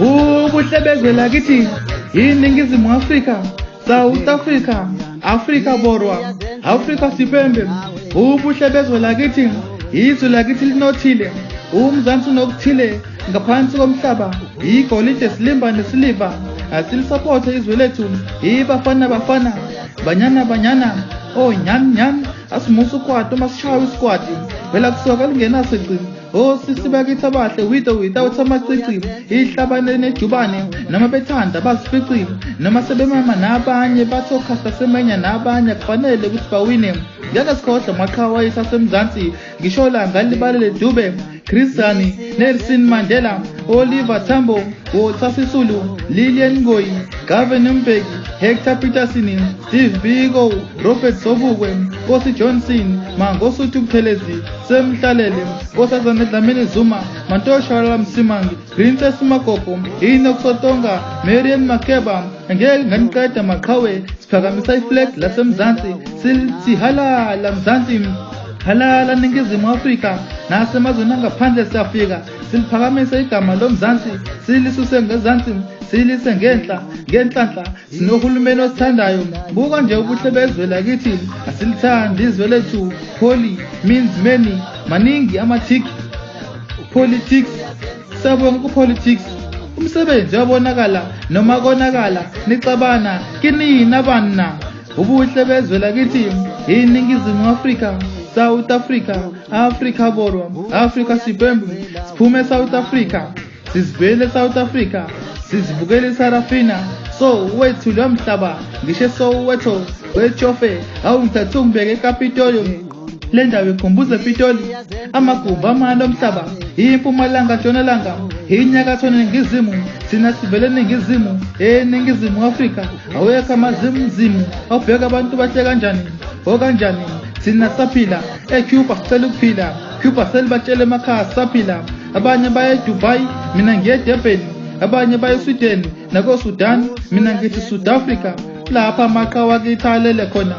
ukuhlebezela kithi yiningizimu afrika south africa afrika borwa afrika sipembe ubuhlebezwe lakithi izwe lakithi linothile umzansi unokuthile ngaphansi komhlaba igolide silimba nesiliva asilisapothe izwe lethu ibafana bafana banyana banyana onyani oh, nyani asimusa ukwati uma sishawa isikwati vela kusoka lingenaso icimo o sisi bakithi abahle with or without amacici ihlabane nejubane noma bethanda bazificile noma sebemama nabanye bathi okhasta semenya nabanye kufanele ukuthi bawine ngeke sikhohlwe maqhawa isasemzansi ngisho la ngalibalele dube Chris Sani, Nelson Mandela, Oliver Tambo, Walter Sisulu, Lillian Ngoyi, Gavin Mbeki, Hector Peterson, Steve Biko, Robert Sobukwe, Nkosi Johnson, Mangosuthu Buthelezi, Sam Hlalele, Nkosazana Dlamini Zuma, Mantosha Msimangi, Princess Magogo, Enoch Sotonga, Marian Makeba, ngeke nganiqeda maqhawe siphakamisa iflag lasemzansi sithi halala mzansi halala ningizimu afrika nasemazweni angaphandle siyafika siliphakamisa igama lomzansi silisuse ngezansi silise ngenhla ngenhlanhla sinohulumeni osithandayo buka nje ubuhle bezwe lakithi asilithandi izwe lethu holy means many maningi amathiki politics Sabonga ku politics umsebenzi uyabonakala noma konakala nixabana kinina banna ubuhle bezwe lakithi iningizimu afrika south africa africa borwa africa sibembu siphume south africa sizibuyele south africa sizibukele isarafina so wethu lo mhlaba ngisho esowetho wetshofe awungithathe ungibeke ekapitolium le ndawo ikhumbuza epitoli amagumbi amane omhlaba impumalanga ntshonalanga inyakatho ningizimu thina sivele ningizimu eningizimu afrika awekho amazimzimu obheka abantu bahle kanjani okanjani thina saphila ecuba sicela ukuphila cuba selibatshele emakhaya saphila abanye baye edubai mina ngiye edebheni abanye baye eswideni nakosudan mina ngithi south africa lapha amaqa wakithi alele khona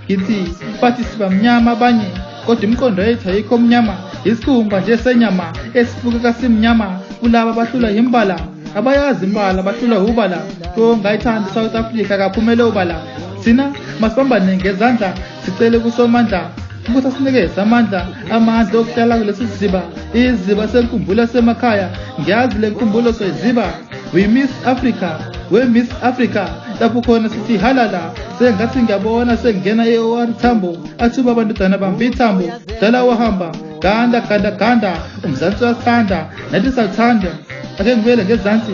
ngithi bathi sibamnyama abanye kodwa imiqondo yethu ayikho omnyama isikhumba nje senyama esibukeka simnyama kulaba bahlula yimbala abayazi imbala bahlula ubala to ngayithanda isouth africa kaphumele ubala thina masibambane ngezandla sicele kusomandla ukuthi asinikeze amandla amandla okuhlala kulesi siziba iziba senkumbulo semakhaya ngiyazi le nkumbulo soyiziba we miss africa we miss africa lapho khona sithi halala sengathi ngiyabona sengingena e-or thambo athuba abantudana bambi ithambo dala wahamba ganda ganda ganda umzansi uyathanda nathi sathanda ake ngibuyele ngezansi